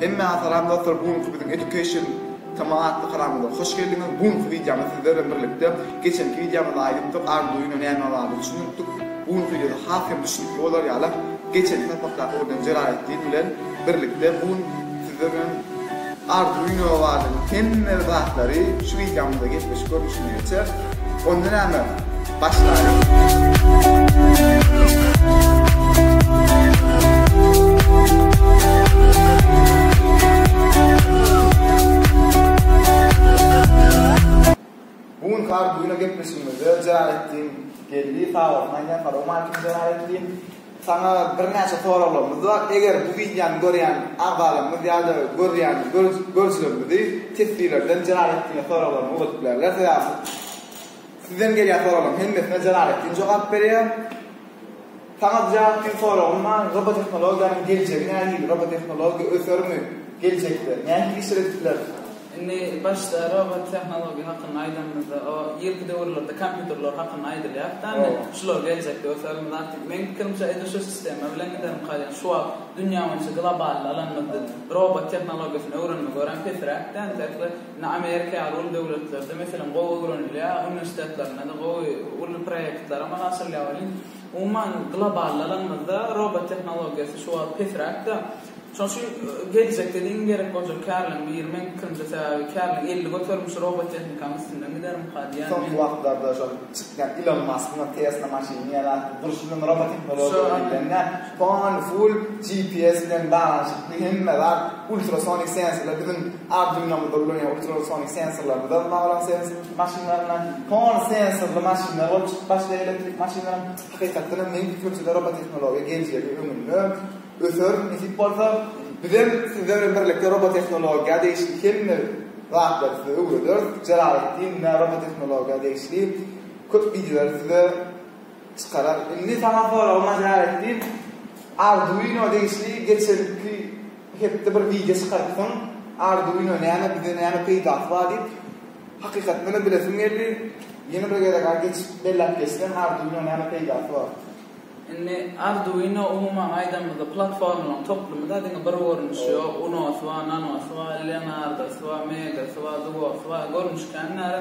Hemmäňe salam dostlar bu günki biziň education tma atly kanalymyza hoş geldiňiz bu günki wideomyz sizler bilen birlikde geçenki wideomyzda aýdypdyk arduino näme barada düşünipdik bu günki wideoda has hem düşünikli bolar ýaly geçenki sapakdaky bolýan jelaletdin bilen birlikde bu gün sizler bilen arduino barada hemme zatlary şu wideomyzda gepleşik görnüşinde geçer onda näme Bu gün kar bugüne gepleşigimizde jerar etdiň geldi sagatyn aýdýan salam aleýkum jerar etdiň saňa birnäçe soraglarymyz bar eger bu wideony görýän agzalarymyz ýa-da görýän görüjilerimizi teswirlerden jerar etdiňe soraglaryny ugradyp bilerler sebäbi Sizden gelýän soraglaryň hemmesine Jalaletdin jogap berýär. Saňa Ziýaletdin soragym bar, robotehnologiýanyň geljegi nähili, robotehnologiýa ösermi geljekde, nähili işler edip bileris? Indi başda robotehnologiýa hakynda aýdanymyzda o irki döwürlerde kompýuterler hakynda aýdylýardy da indi şular geljekde ösermi zat meň pikirimçe edil şu sistema bilen giderim kalýan şu wagt dünýä boýunça globalny alanymyzda robotehnologiýasyny öwrenmek örän pesräkdi entek we Indi Amerika ýaly uly döwletlerde meselem gowy öwrenilýär, uniwersitetlerinde-de gowy uly proýektler amala aşyrylýar welin, umuman globallalanymyzda robot tehnologiýasy şu wagt pesräk-de. Şonuň üçin geljekde-de iň gerek boljak kärleriň biri, meň pikirimçe, sebäbi kärleriň elli göterimi şu robot tehnikanyň üstünden gidermika diýýän men. Soňky wagtlarda şol çykýan Ilon Maskyň Tesla maşyny ýa-da durşuna robot tehnologiýa diýilende, pol, full GPS bilen baglanyşykly hemme zat, ultrasonik sensorlar biziň Arduino-da ulanylan ultrasonic sensorlar, bular maglumat serwisiniň maşynlarynda, soňra sensorly maşynlar bolup çykyp başlaýar, elektrik maşynlaram. Hakykatdan hem meň pikirimçe-de robotehnologiýa geljegi öňünde öser, nesip bolsa, bizem siz bilen birlikde robotehnologiýa degişli hemme zatlary size öwrederis. Jalaletdin, Robotehnologiýa degişli köp wideolary size. Çykarar. Indi saňa soragy majar etdim. Arduino degişli geçenki hepde bir wideo çykarypsyň. Arduino näme, bize näme peýdasy bar diýip. Hakykatdanam bilesim geldi. Ýene bir gezek aý geçip belläp geçseň arduino näme peýdasy bar. Indi arduino umuman aýdanymyzda platformalaryň toplumy da diňe bir görnüşi ýok. Unosy bar, nanosy bar, leonardosy bar, megasy bar, dugosy bar. Görnüş kän näre.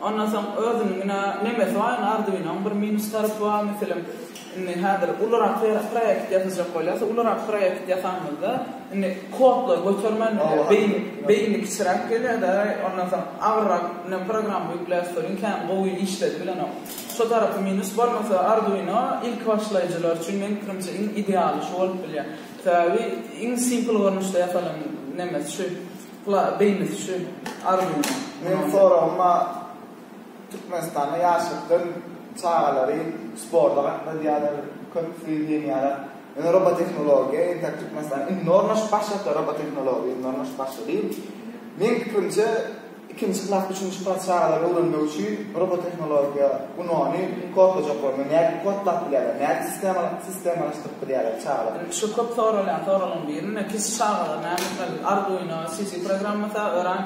Ondan soň özüniň ine nemesi bar indi Arduino-nyň bir minus tarapy bar meselem indi häzir ulurak proýekt ýasajak bolýas ulurak proýekt ýasaňyzda indi kodlary götermän beýni beýni kiçiräk gelýärde ondan soň agyrrak ine programma ýükläs welin kän gowy işledi bilenok şo tarapy minus bolmasa Arduino ilki başlaýjylar üçin meň pikirimçe iň idealy şu bolup bilýär sebäbi iň simple görnüşde ýasalan nemesi şu. Bula beýnisi şu arzuwyň. Meniň soragym a Türkmenistanda ýaşlykdan çagalary sporta gatnadýarlar, köpüsi diýenýärler, ýöne robotehnologiýa entäk Türkmenistanda indi ornaşyp başlapdyr, robotehnologiýa indi ornaşyp başlady. Meniň pikirimçe ikinji klas, üçünji klas çagalary öwrenmek üçin robotehnologiýa unagyny kodlajaklar, nädip kodlap bilýärler, nädip sistema, Sistema açdyk biz ýaly çagalar. Şu köp soralýan soralyň birine kiçi çagalar näme etmeli? Arduino, CC programmasy örän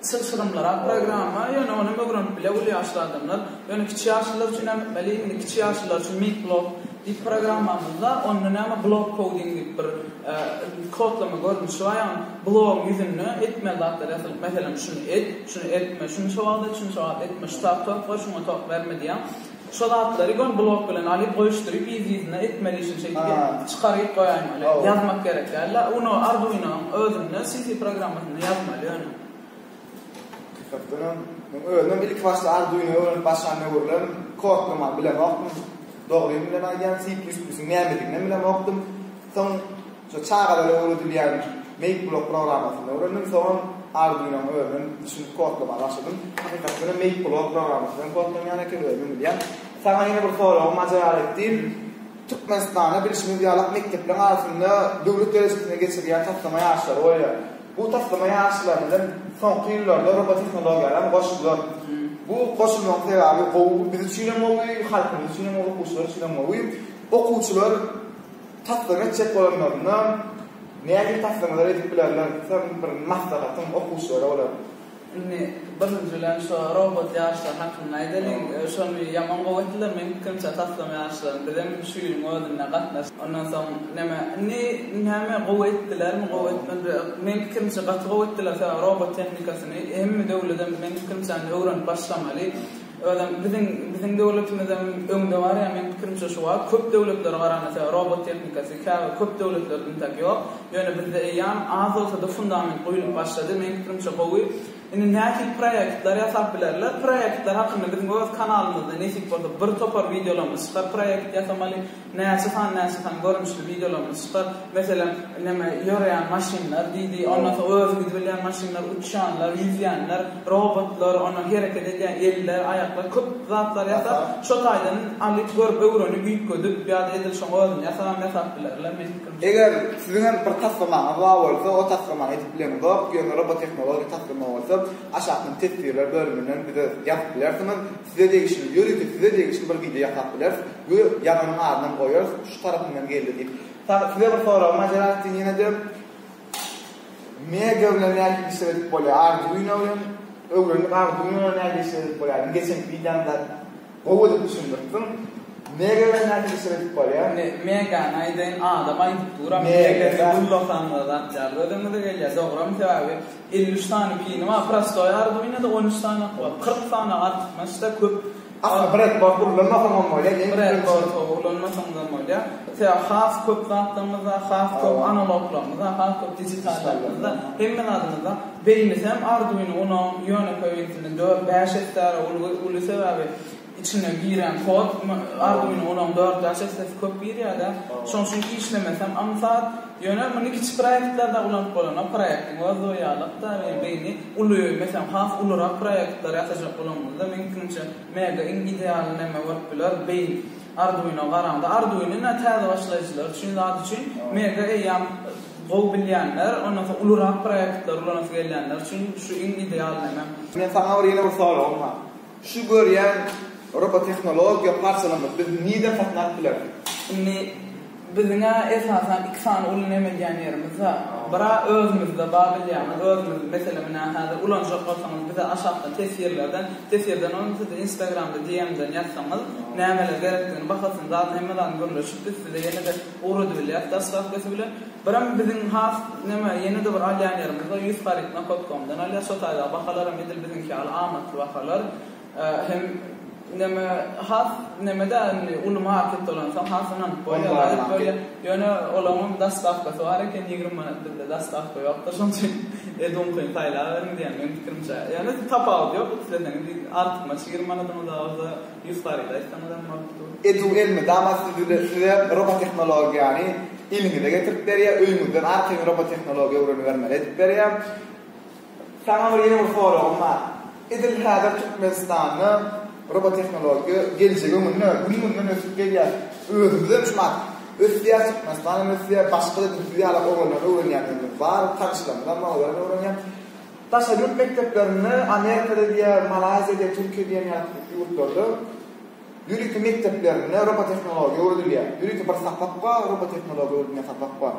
çylşyrymlyrak programma, ýöne ony hem öwrenip biler uly ýaşly adamlar. Ýöne kiçi ýaşlylar üçin näme etmeli? Indi kiçi ýaşlylar üçin MeatBlock diýip programmamyz bar. Onda näme block coding diýip bir kodlama görnüşi bar. Ýagny blogyň ýüzünde etmeli zatlar ýazylyp, meselem şuny et, şuny etme, şuny şo wagt et, şuny şo wagt etme, şu tabak tok ber, şuňa tok berme diýýär. Şo zatlary gon blok bilen alyp goýuşdyryp yz yzyna etmeli işini şeýdip ýa çykaryp goýaýmaly ýazmak gerek dälda uno arduinoň özünde cc programmasyny ýazmaly ýöne. Hakdanam men özümem ilki başda arduino öwrenip başlan döwürlerim kodlaman bilemokdym dogrymy bilen aýdýan c plus plus-yň nämediginem bilemokdym soň Şu çagalara öwredilýän MakeBlock programmasyny öwrendim, soňam Arduino-ňy özüm düşünip kodlamaga başladym. Hakykat bilen MakeBlock programmasy hem kodlanýan eken, özüm bilýän. Saňa ýene bir soragym majaly etdim. Türkmenistanda bilşimiz ýalak mekdepleriň arasynda döwlet derejesinde geçirilýän taslama ýaryşlary bolýar. Bu taslama ýaryşlaryna hem soňky ýyllarda robotehnologiýalar hem goşdular. Bu goşulmagyň sebäbi gowy, biz üçin hem gowy, halkymyz üçin hem gowy, okuwçylar üçin hem gowy. Okuwçylar. Taslama etjek bolanlarynda nähili taslamalar edip bilerler? Sen bir maslahatyň okuwçylara bolar? Indi birinji bilen şo robot ýaryşlaryň hakynda aýdalyň. Şony ýaman gowy etdiler meň pikirimçe taslama ýaryşlaryny. Bizem şu ýylyň özünde gatnaşdyk. Ondan soň näme, indi näme gowy etdilermi, gowy etmediler. Meň pikirimçe gaty gowy etdiler. Sebäbi robot tehnikasyny hemme döwledem meň pikirimçe indi öwrenip başlamaly. Özem biziň biziň döwletimizem öňde bar ýa meň pikirimçe şu wagt köp döwletlere garanysa robot tehnikasy käbir köp döwletlerde intak ýok ýöne bizde eýýam az bolsada fundament guýlup başlady meň pikirimçe gowy indi nähili proýektler ýasap bilerler proýektler hakynda biziň öz kanalymyzda nesip bolsa bir topar wideolarymyz çykar proýekt ýasamaly Näçe sany näçe sany görnüşli wideolarymyz çykar. Meselem, neme, ýöreýän maşynlar, diýdi, ondan soň özi gidibilýän maşynlar, uçýanlar, ýüzýänler, robotlar, ondan soň hereket edýän eller, aýaklar, köp zatlar ýasap, şo taýdan alyp, görüp, öwrenip, üýtgedip ýa-da edil şoň özüni ýasabam ýasap bilerler, meniň pikirimçe. Eger siziň hem bir taslamaňyz bar bolsa, o taslamany edip bileňizok, ýöne robotehnologiýa taslama bolsa, aşakdan teswirler bölüminden bize ýazyp bilersiňiz, size degişli, ýörite size degişli bir wideo ýasap bileris. Buyr, ýazanyň adynam goýarys, şu tarapyňdan geldi diýip. Sag, size bir sorag, Maserati diýen ýene-de Mega bilen nädip işler edip bolýar, Arduino bilen, öwrendik Arduino bilen nädip işler edip bolýar, indi geçenki wideoňda gowy edip düşündiripsiň, Mega bilen nädip işler edip bolýar? Indi Megany aýdaýyn, adam aýdyp duram, Mega-da. Megany ullasaňyzam zat ýaly gözüňize gelýär, dogrumy sebäbi. Elli üç sany pini bar, prostoý Arduino-da on üç sany haky bar. Kyrk sany artykmaç-da köp. Aslynda bredbord ulanmasaňam bolýar, ýeňil ulanýar. Bredbord-a ulanmasaňyzam bolýar. Sebäbi has köp zatlarymyz bar, has köp analoglarymyz bar, has köp dijitallarymyz bar. Hemme zadymyz bar. Beýnisem Arduino unagyň ýönekeý ýöntelen dört, bäş esse-de uly sebäbi. Içine giren kod Arduino Uno-yň dördüden sesdesi köp girýärde, şoň üçin işlemesi hem aňsat. Ýöne muny kiçi proýektlerde ulanyp bolana, proýektiň öz doýýarlykda we beýni uly, meselem, has ulurak proýektler ýasajak bolanyňyzda, meň pikirimçe, Mega iň ideal neme bolup biler, beýin. Arduino garaňda, Arduino ine täze başlaýjylar üçin zat üçin, Mega eýýäm gowy bilýänler, ondan soň ulurak proýektler ulanasy gelýänler üçin şu iň ideal neme. Men saňa bir ýene bir soragym bar. Şu görýän robotehnologiýa parçalarymyz biz nirden satyn alyp bileris? Indi biziň-ä esasan iki sany ulny emedýän ýerimiz bar. Bir-ä özümizde bar bilýäňiz, özümiz meselem menä häzir ulanjak bolsaňyz bize aşakda teswirlerden, teswirden bolmasa siz instagramda DM-den ýazsaňyz nämeler gerekdigini, bahasyny, zadyny hemme zadyny gürleşip biz size ýene-de Owrady bilýäs daslapkysy bilen. Birem biziň has neme ýene-de bir alýan ýerimiz bar. Ýüz haryt Nakotkomdan alýas. Şo taýda bahalaram edil biziňki ýaly amatly bahalar. Hem neme has neme däl indi uly market dolansaň has ynanyp bolýar. Ýöne olaňam daslapkysy bar eken ýigrimi manat bizde daslapka ýokdur. Şonuň üçin eduňkyny saýlaberiň diýýän meň pikirimçe. Ýöne tapawudy ýok isleseňiz artykmaç ýigrimi manadyňyz bar bolsa. Ýüz haryda aýtsaňyzam bolup dur. Ejuw elmydama sizi size robotehnologiýany eliňize getirip berýär, öýüňizden arkaýyn robotehnologiýa öwrenibermeli edip berýär. Saňa bir ýene bir soragym bar. Edil häzir Türkmenistanda robotehnologiýa geljegi öňünde, gün-günden ösüp gelýär. Özümizem şu wagt ösýäs, Türkmenistan hem ösýär, başga-da düzüw ýaly owadan öwrenýänlerimiz bar, tanyşlarymyzam bar, olarem öwrenýär. Daşary ýurt mekdeplerinde, Amerikada diýýär, Malaýziýada, Türkiýe diýen ýaly ýurtlarda ýörite mekdeplerinde robotehnologiýa öwredilýär. Ýörite bir sapak bar, robotehnologiýa öwredilýän sapak bar.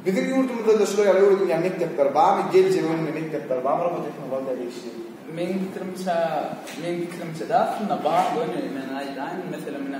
Biziň ýurdumyzda-da şular ýaly öwredilýän mekdepler barmy? Geljege öňünde mekdepler barmy robotehnologiýa degişli? Meniň pikirimçe, meniň pikirimçe-de aslynda bar, göni men aýdaýyn, meselem, ine,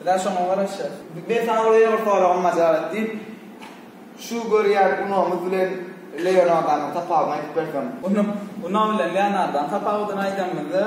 Biz-ä şoňa garaşýas. Men saňa bir ýene bir soragym majal et diýip, şu görýän gunagymyz bilen Leonardanyň tapawudyny aýdyp berseň. Gunag, gunag bilen Leonardanyň tapawudyny aýdanymyzda,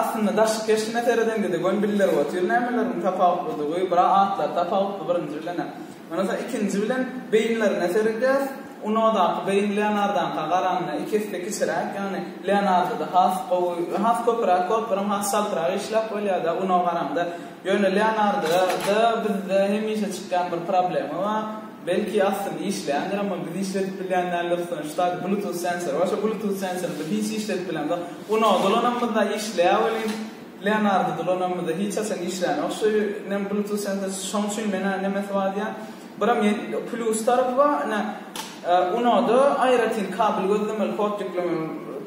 aslynda daşky keşbine seredende-de göni bildirip otyr nämeleriň tapawutlydygy, bir-a atlary tapawutly birinji bilen-ä. Ondan soň ikinji bilen beýinlerine seredýäris. Unodaky beýin Leonardaňka garanda iki esse kiçiräk, ýagny Leonardoda has gowy, has köpüräk gorklaram has çaltrak işläp bolýar-da Unoa garanda. Ýöne Leonardoda bizde hemişe çykýan bir problema bar. Belki aslynda işleýändirem ol, biz işledip bilýän däldiris soň şu taýda bluetooth sensor bar, şo bluetooth sensory biz hiç işledip bilemzok. Unoa dolanamyzda işleýär welin, Leonardo da lonarmada hiç haçan işlänok şu inem bluetooth sensor şoň üçin menä nemesi bar diýýän biram ýetmiýok plýus tarapy bar ine unoda aýratyn kabel gözlemeli kod ýüklemek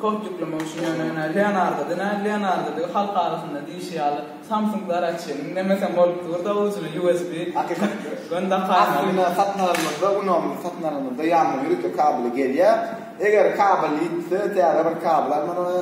kod ýüklemek üçin ýöne ine leonardo da näl leonardo da halk arasynda diýşi ýaly samsung zaraçynyň nemesem bolup durda ujuna usb hakykat göni dakaýmaly aslynda satyn alanymyzda unony satyn alanymyzda ýanynda ýörite kabeli gelýär eger kabel ýitse täze bir kabel almaly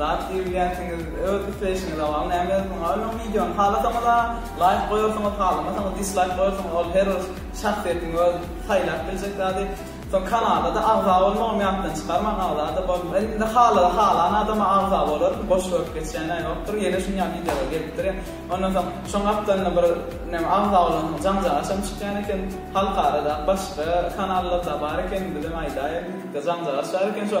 Zat diýilýänsiňiz öz isleýşiňize bagly näme ýazdyň aýl oň wideony halasaňyza laýk goýarsyňyz halamasaňyz dislaýk goýarsyňyz ol her bir şahsyýetiň öz saýlap biljek zady soň kanalada agza bolmagam ýatdan çykarmaň agzada bol indi hala halan adama agza bolaryn boş görüp geçýäne ýokdur ýene şunýa wideolar gelip durýa ondan soň şoň gapdalynda bir näme agza bolansoň jaňjagaşam çykýan eken halkara da başga kanallarda bar eken bizem aýdaýa diýdik de jaňjagaş bar eken şo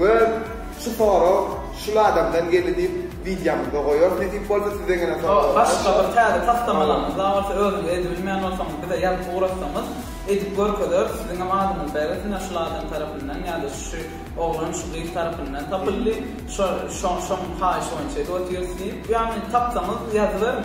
We şu sorag şul adamdan geldi diýip wideomyzda goýarys nesip bolsa sizden gelen sorag bolsa. Başga bir täze taslamalaryňyz bar bolsa özüňiz edip bilmeýän bolsaňyz bize ýazyp ugratsaňyz edip görkezeris siziňem adyňyzy bereris ine şul adam tarapyndan ýada şu oglan şu gyz tarapyndan tapyldy şo şoň şoň haýyşy boýunça edip otyrs diýip ýagny tapsaňyz ýazyberiň.